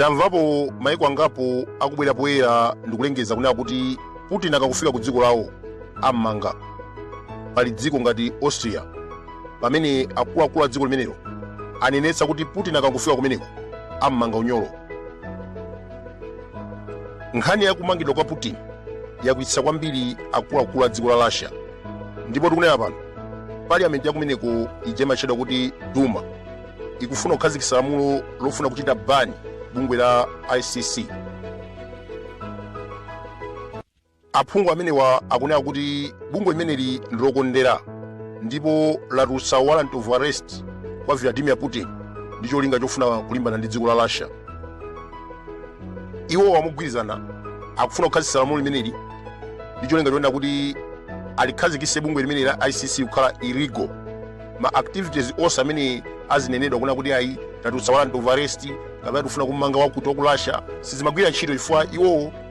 tamvapo maiko angapo akubwera poyera ndikulengeza kunena kuti putin akakufika ku dziko lawo ammanga pali dziko ngati austria pamene akuluakulu a dziko limenelo anenetsa kuti putin akakufika kumeneko ammanga unyolo nkhani ya kumangidwa kwa putin yakwiyitsa kwambiri akuluakulu a dziko la russia ndipo tikunena pano parliament yakumeneko ija imatchedwa kuti duma ikufuna kukhazikitsa lamulo lofuna kuchita bani bungwe la icc Aphungu amenewa akunena kuti bungwe limeneli ndi lokondera ndipo latulutsa warrant of arrest kwa Vladimir Putin ndi cholinga chofuna kulimbana ndi dziko la Russia. Iwowa mogwirizana akufuna kukhazikitsa lamulo limeneli ndi cholinga chonena kuti alikhazikitse bungwe limeneli la ICC kukhala illegal. Ma activities onse amene azinenedwa kunena kuti ayi tatulutsa warrant of arrest kapena tikufuna kumanga wakuti wa ku Russia sizimagwira ntchito chifukwa iwowo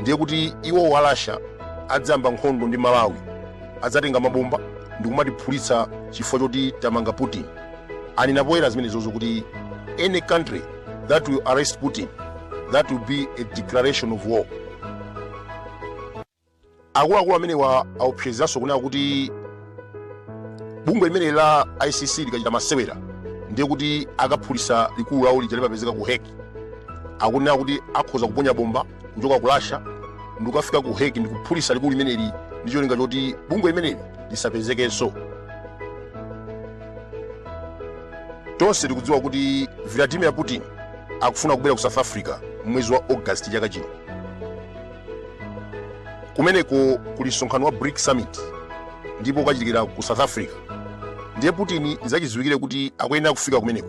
ndiye kuti iwowo a russia adzayamba nkhondo ndi malawi adzatenga mabomba ndikumatiphulitsa chifukwa choti tamanga putin anena poyera zimenezozo kuti any country that will arrest putin that will be a declaration of war akuluakulu amenewa aopsezanso kunena kuti bungwe limeneli la icc likachita masewera ndiye kuti akaphulitsa likulu lawo lija limapezeka ku hague akunena kuti akhoza kuponya bomba kuchoka ku russia ndikukafika ku hague ndikuphulitsa likulu limeneli ndi cholinga choti bungwe limeneli lisapezekenso tonse tikudziwa kuti vladimir putin akufuna kubwera ku south africa mwezi wa august chaka chino kumeneko kuli msonkhano wa brics summit ndipo ukachitikira ku south africa ndiye putin ndi zachidziwikire kuti akuyenera kufika kumeneko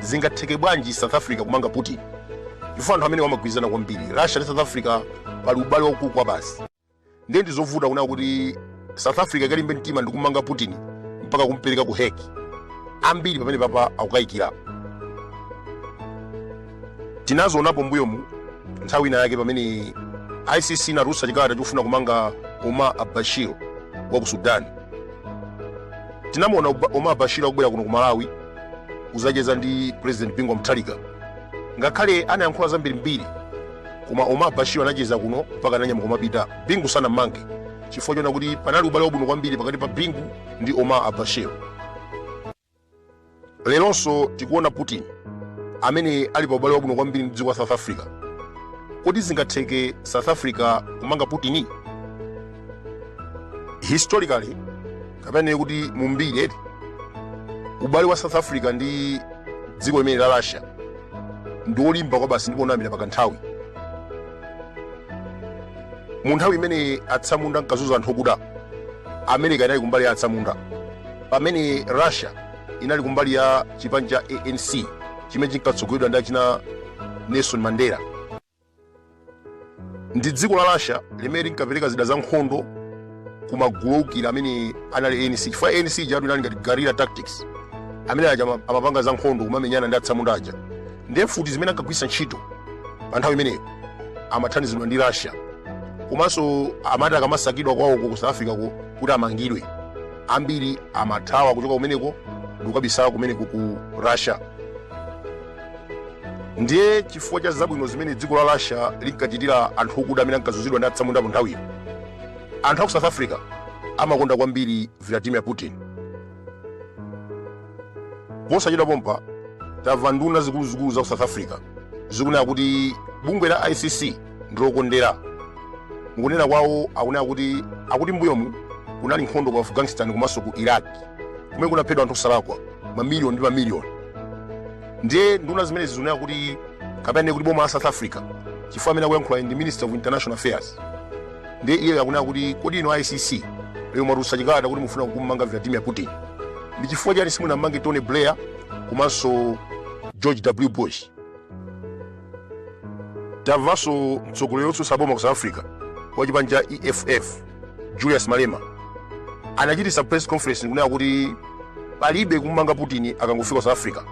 Zingatheke bwanji South Africa kumanga Putin? Chifukwa anthu amenewa amagwirizana kwambiri Russia ndi South Africa pali ubale waukulu kwabasi. Ndiye ndi zovuta kunena kuti South Africa ikalimbe mtima ndi kumanga Putin mpaka kumpereka ku Hague. Ambiri pamenepapa akukayikira. Tinazionapo mbuyomu nthawi ina yake pamene ICC inatulutsa chikalata chofuna kumanga Omar al-Bashir wa ku Sudan. Tinamuona Omar al-Bashir akubwera kuno ku Malawi kuzacheza ndi president bingu wa mutharika ngakhale anayankhula zambirimbiri koma omar al bashir anacheza kuno mpaka ananyamuka kumapita bingu sanammange chifukwa chona kuti panali ubale wabwino kwambiri pakati pa bingu ndi omar al bashir leronso tikuona putin amene ali pa ubale wabwino kwambiri ndi dziko la south africa kodi zingatheke south africa kumanga putin historically kapena kuti mumbiri ubale wa south africa ndi dziko limene la russia ndi wolimba kwabasi ndipo unayambira pakanthawi mu nthawi imene atsamunda ankazuza anthu okuda america inali kumbali ya atsamunda pamene russia inali kumbali ya chipani cha anc chimene chinkatsogoleredwa ndi achina nelson mandela ndi dziko la russia limene linkapereka zida za nkhondo ku magulu oukira amene anali anc chifukwa anc ijatu inali ngati guerrilla tactics amene aja amapanga za nkhondo kumamenyana ndi atsamunda aja ndiye mfuti zimene ankagwiritsa ntchito pa nthawi imeneyo amathandizidwa ndi russia komanso amati akamasakidwa kwawoko ku south africa ko kuti amangidwe ambiri amathawa kuchoka kumeneko ndikukabisala kumeneko ku russia ndiye chifukwa cha zabwino zimene dziko la russia linkachitira anthu okuda amene ankazunzidwa ndi atsamunda munthawiyo anthu a ku south africa amakonda kwambiri vladimir putin posachedwa pompa tamva nduna zikuluzikulu za ku south africa zikunena kuti bungwe la icc ndilokondera mukunena kwawo akunena kuti akuti mbuyomu kunali nkhondo ku afghanistan komanso ku iraq kumene kunaphedwa anthu osalakwa mamiliyoni ndi mamiliyoni ndiye nduna zimenezi zikunena kuti kapena kuti boma la south africa chifukwa amene akuyankhula ndi minister of international affairs ndiye iye akunena kuti kodi inu a icc lero mwatulutsa chikalata kuti mufuna kummanga vladimir putin ndi chifukwa chani simunammange tony blair komanso george w bush tamvanso mtsogoleri wotsutsa boma ku south africa wa chipani cha eff Julius Malema anachititsa press conference kunena kuti palibe kummanga Putin akangofika South Africa.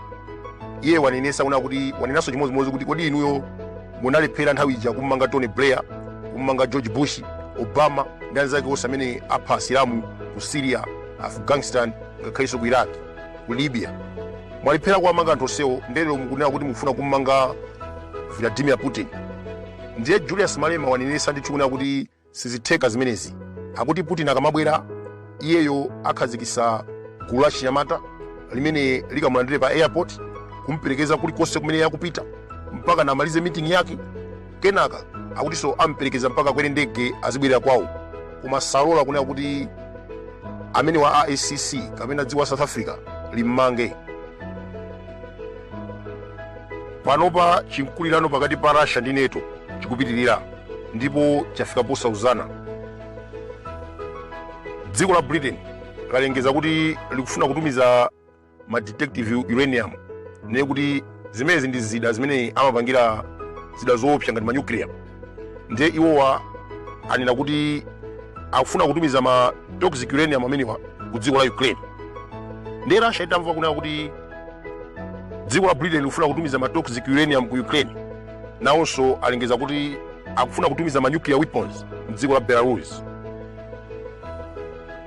Iye wanenesa kunena kuti wanenanso chimodzimodzi kuti kodi inuyo munalephera nthawi ija kummanga Tony Blair, kummanga George Bush, Obama ndi anzake onse amene apha asilamu ku Syria, Afghanistan ngakhalenso ku Iraq, ku Libya. Mwalephera kuwamanga anthu onsewo nde lero mukunena kuti mukufuna kummanga Vladimir Putin. Ndiye Julius Malema wanenesa ndithu kunena kuti Sizitheka zimenezi. Akuti Putin akamabwera, iyeyo akhazikitsa gulu la achinyamata limene likamulandire pa airport, kumuperekeza kulikonse kumene akupita mpakana amalize meeting yake. Kenaka akutinso amuperekeza mpaka akwere ndege azibwerera kwawo. Koma salola kunena kuti amenewa a ICC kapena dziko la South Africa limmange. Panopa chinkulirano pakati pa Russia ndi NATO chikupitirira ndipo chafika posauzana. Dziko la Britain lalengeza kuti likufuna kutumiza ma depleted uranium ndiye kuti zimenezi ndi zida zimene amapangira zida zoopsa ngati manyukliya ndiye iwowa anena kuti akufuna kutumiza ma toxic uranium amenewa ku dziko la ukraine ndiye russia itamva kunena kuti dziko la britain likufuna kutumiza ma toxic uranium ku ukraine nawonso alengeza kuti akufuna kutumiza ma nuclear weapons mdziko la belarus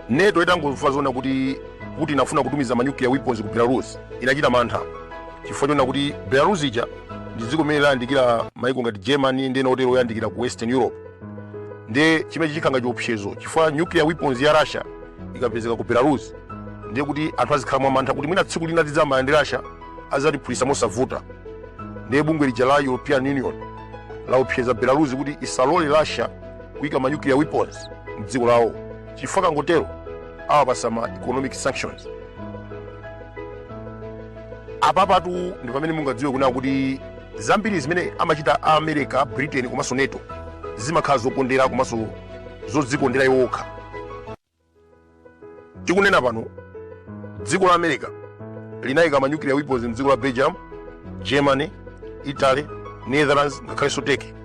NATO itangomva zonena kuti putin afuna kutumiza ma nuclear weapons ku belarus inachita mantha chifukwa chonena kuti belarus ija ndi dziko limene layandikira maiko ngati germany ndi ena otero oyandikira ku western europe ndiye chimenechi chikhala ngati chiopsezo chifukwa nuclear weapons ya russia ikapezeka ku belarus ndiye kuti anthu azikhala mwamantha kuti mwina tsiku lina tidzayamba ndi russia adzatiphulitsa mosavuta ndiye bungwe lija la european union laopseza belarus kuti isalole russia kuyika ma nuclear weapons mdziko lawo chifukwa akangotero awapatsa ma economic sanctions apapatu ndi pamene mungadziwe kunena kuti zambiri zimene amachita a america britain komanso NATO zimakhala zokondera komanso zodzikondera iwo okha tikunena pano dziko la america linayika manyukiliya weapons mdziko la belgium germany italy netherlands ngakhalenso turkey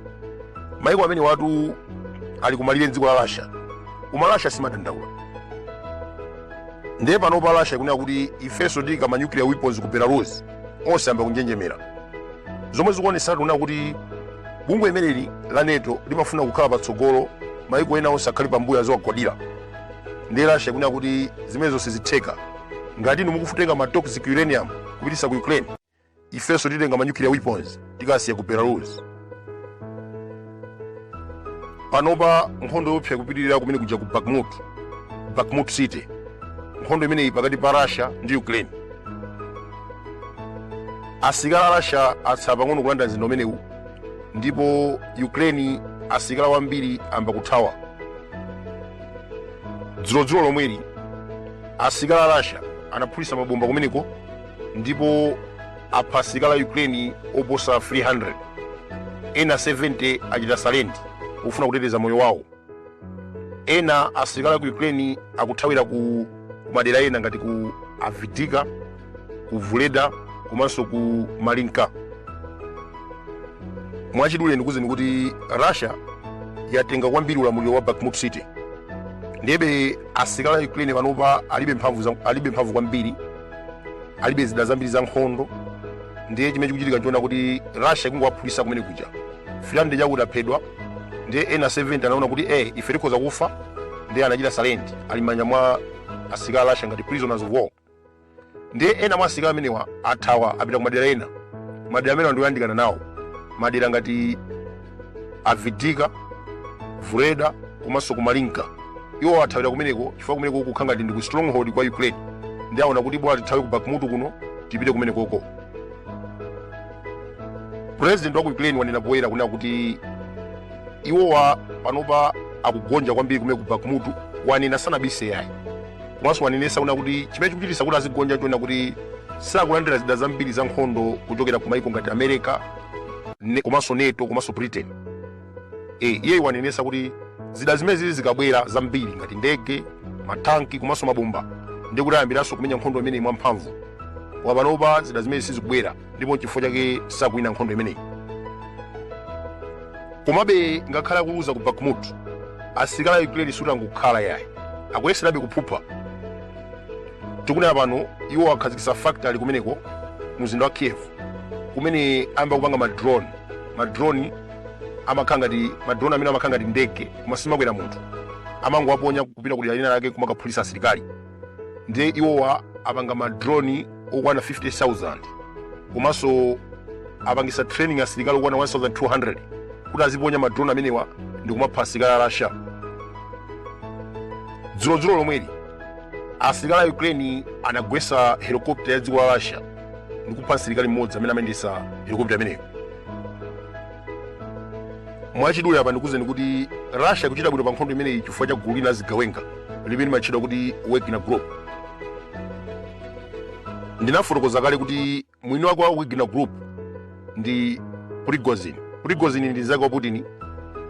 maiko amenewatu ali kumalire a dziko la russia koma russia simadandaula ndiye panopa russia ikunena kuti ifenso tiika ma nuclear weapons ku belarus onse ayamba kunjenjemera zomwe zikuonetsatu kunena kuti bungwe limeneli la NATO limafuna kukhala patsogolo maiko ena onse akhale pambuyo aziwagwadira ndiye russia ikunena kuti zimenezo sizitheka ngati inu mukufuna kutenga ma toxic uranium kupititsa ku ukraine ifenso titenga ma nuclear weapons tikasiya ku belarus panopa nkhondo yoopsa ikupitirira kumenekuja ku bakhmut bakhmut city nkhondo imeneyi pakati pa russia ndi ukraine asilikali a russia atsala pang'ono kulanda mzinda umenewu ndipo ukraine asilikali ambiri ayamba kuthawa dzulodzulo lomweli asilikali a russia anaphulitsa mabomba kumeneko ndipo apha asilikali a ukraine oposa 300 ena 70 achita surrender kufuna kuteteza moyo wawo ena asilikali a ku ukraine akuthawira ku ku madera ena ngati ku avdiivka ku vuhledar komanso ku marinka mwachidule ndikuuzeni kuti russia yatenga kwambiri ulamuliro wa bakhmut city ndiyebe asilikali a ukraine panopa alibe mphamvu za- alibe mphamvu kwambiri alibe zida zambiri za nkhondo ndiye chimene chikuchitika nchonena kuti russia ikungowaphulisa kumene kuja finland chakuti aphedwa ndiye ena 70 anaona kuti eh ife tikhoza kufa ndiye anachita surrender ali m'manja mwa asilikali a russia ngati prisoners of war ndiye ena mwa asilikali amenewa athawa apita ku madera ena madera amenewa ndi oyandikana nawo madera ngati avdiivka vuhledar komanso ku marinka iwowa athawira kumeneko chifukwa kumeneko kukukhala ngati ndi ku stronghold kwa ukraine ndiye aona kuti bola tithawe ku bakhmut kuno tipite kumenekoko president wa ku ukraine wanena poyera kunena kuti iwowa panopa akugonja kwambiri kumene ku bakhmut wanena sanabise yayi komanso wanenesa kunena kuti chimene chikuchitisa kuti azigonja nchonena kuti sakulandira zida zambiri za nkhondo kuchokera ku maiko ngati america ne, komanso nato komanso britain e, iye wanenesa kuti zida zimenezi zikabwera zambiri ngati ndege matanki komanso mabomba ndi kuti ayambiranso kumenya nkhondo imeneyi mwamphamvu koma panopa zida zimenezi sizikubwera ndipo nchifukwa chake sakuwina nkhondo imeneyi komabe ngakhale akuluza ku bakhmut asilikali a ukraine sikuti angokhala yayi akuyeserabe kuphupha tikunena pano iwowa akhazikitsa factory kumeneko ku mzinda wa kiev kumene ayamba kupanga madrone madrone amakhala ngati madrone amenewa amakhala ngati ndege koma simakwera munthu amangowaponya kupita kudera lina lake kumakaphulitsa asilikali ndiye iwowa apanga madrone okwana 50000 komanso apangisa training asilikali okwana 1200 kuti aziponya madrone amenewa ndi kumapha asilikali a russia dzulodzulo lomweli asilikali a ukraine anagwetsa helikopta ya dziko la russia ndi kupha msilikali mmodzi amene amayendetsa helikopta imeneyo mwachidule apa ndikuuzeni kuti russia ikuchita bwino pa nkhondo imeneyi chifukwa cha gulu lina la zigawenga limene limatchedwa kuti wagner group ndinafotokoza kale kuti mwini wake wa wagner group ndi prigozhin prigozhin ndi mzake wa putin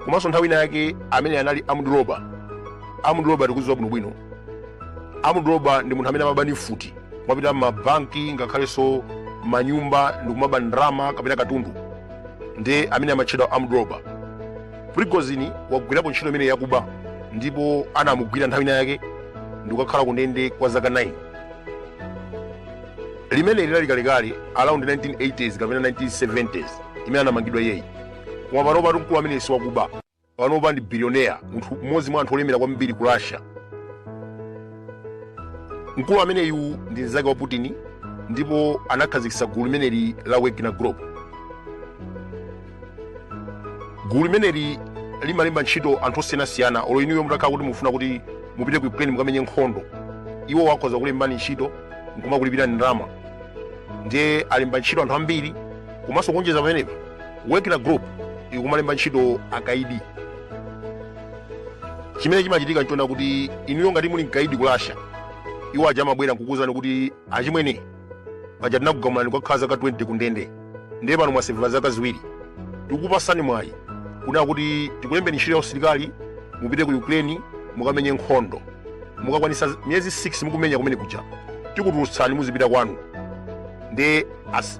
komanso nthawi ina yake ameneyu anali armed robber armed robber tikuziwa bwinobwino armed robber ndi munthu amene amaba ndi mfuti kumapita mabanki ngakhalenso manyumba ndi kumaba ndalama kapena katundu ndi amene amatchedwa armed robber prigozhin wagwirapo ntchito imeneyi yakuba ndipo anamugwira nthawi ina yake ndikukakhala kundende kwa zaka 9 limene linali kalekale around 1980s kapena 1970s mmene anamangidwa iyeyi koma panopa mkulu ameneyi si wakuba panopa ndi bilionea munthu mmodzi mwa anthu olemera kwambiri ku russia mkulu ameneyu ndi mnzake wa putin ndipo anakhazikitsa gulu limeneli la wagner group gulu limeneli limalemba ntchito anthu osiyanasiyana olo inuyo mutakhala kuti mukufuna kuti mupite ku ukraine mukamenye nkhondo iwo akhoza kulembani ntchito nkumakulipirani ndalama ndiye alemba ntchito anthu ambiri komanso kuonjeza pamenepa wagner group ikumalemba ntchito akaidi chimene chimachitika nchona kuti inuyo ngati muli mkaidi ku russia iwo aja amabwera nkukuwuzani kuti achimwene paja tinakugamulani kukakhala zaka 20 kundende ndiye pano mwaseva zaka ziwiri tikukupasani mwayi kunena kuti tikulembeni ntchito ya usilikali mupite ku ukraine mukamenye nkhondo mukakwanisa miyezi 6 mukumenya kumene kuja tikutulutsani muzipita kwanu ndiye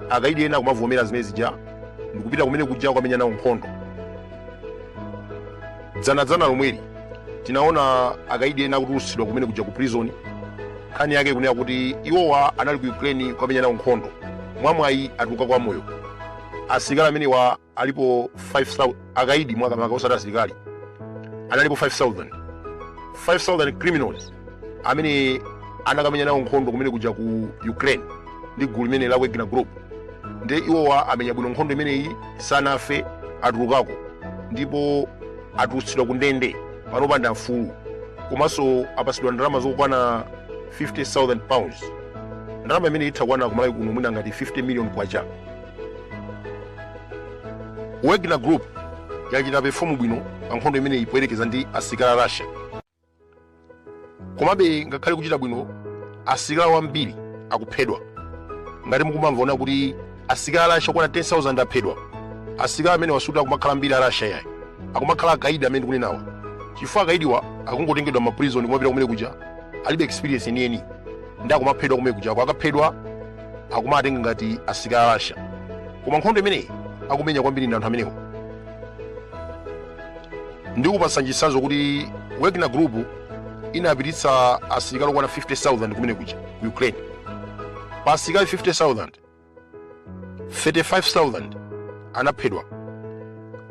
akaidi ena kumavomera zimene zija ndikupita kumene kuja kukamenya nawo nkhondo dzanadzana lomweli tinaona akaidi ena akutulutsidwa kumene kuja ku prison nkhani yake kunena kuti iwowa anali ku ukraine kukamenya nawo nkhondo mwamwayi atulukako amoyo asilikali amenewa alipo 5000 akaidi makamaka osati asilikali analipo 5000 5000 criminals amene anakamenya nawo nkhondo kumene kuja ku ukraine ndi gulu limeneli la wagner group nde iwowa amenya bwino nkhondo imeneyi sanafe atulukako ndipo atulutsidwa ku ndende panopa ndi afulu komanso apasidwa ndalama zokwana 50000 pounds ndalama imene itha kukwana ku malawi kuno mwina ngati 50 million kwacha wagner group yachita perform bwino pa nkhondo imeneyi poyerekeza ndi asilikali a russia komabe ngakhale kuchita bwino asilikali ambiri akuphedwa ngati mukumamva kunena kuti asilikali a russia okwana 10000 aphedwa asilikali amenewa sikuti akumakhala ambiri a russia yayi akumakhala akaidi amene ndikunenawa chifukwa akaidiwa akungotengedwa m'maprizoni kumapita kumene kuja alibe experience yeniyeni ndiye akumaphedwa kumene kuja akaphedwa akumatenga ngati asilikali a russia koma nkhondo imeneyi akumenya kwambiri ndi anthu amenewa ndikupatsani chitsanzo kuti wagner group inapititsa asilikali okwana 50000 kumene kuja ku ukraine pa asilikali 50000 35000 anaphedwa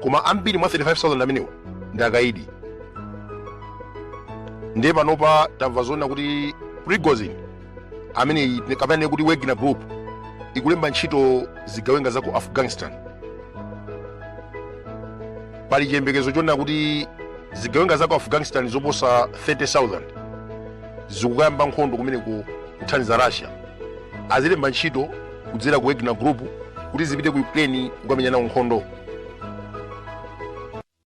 koma ambiri mwa 35000 amenewo ndi akaidi ndiye panopa tamva zonena kuti prigozhin amene kapena kuti wagner group ikulemba ntchito zigawenga za ku afghanistan pali chiyembekezo chonena kuti zigawenga za ku afghanistan zoposa 30000 zikukayamba nkhondo kumeneko kuthandiza russia azilemba ntchito kudzera ku wagner group kuti zipite ku ukraine kukamenya nawo nkhondo